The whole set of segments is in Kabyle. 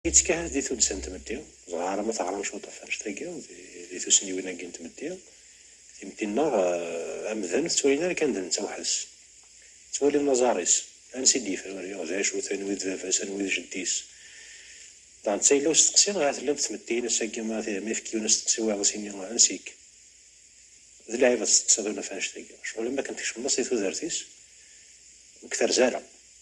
Yettkahat di tuddsa n tmetti, dɣa alamma teɣram cwiṭṭef annect-agi di tussniwin-agi n tmetti, timetti-nneɣ amdan tettwalin ara kan d netta weḥd-s. Ttwalin laẓar-is, ansi i d-yefruri, d acu-t, anwi d baba-s, anwi d jeddi-s. Daɣen d tayla usteqsi dɣa tella-d tmetti-ines agi ma ifekkiwen asteqsi wayeḍ as-ini ansi-k? D lɛib ad testeqsiḍ unaf annect-agi, ccɣel am wakken tkecmeḍ-as di tudert-is ur k-terzi ara.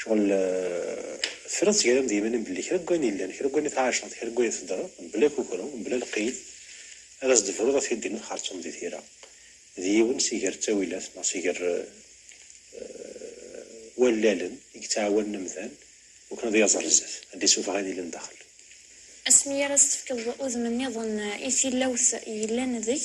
Cɣel tefriḍ seg-ara am d-yimanim belli kra n wayen yellan, kra n wayen i tɛaceḍ, kra n wayen i teddreḍ, mebla kukru, mebla lqid, ad as-d-tebruḍ ad t-id-din ad xerceḍ di tira. D yiwen si ger ttawilat neɣ si ger wallalen i yettɛawanen amdan wakken ad yaẓ ar zdat, ad d-isufeɣ ayen yellan daxel. Asmi ara s-tefkeḍ udem-nniḍen i tilawt yellan deg.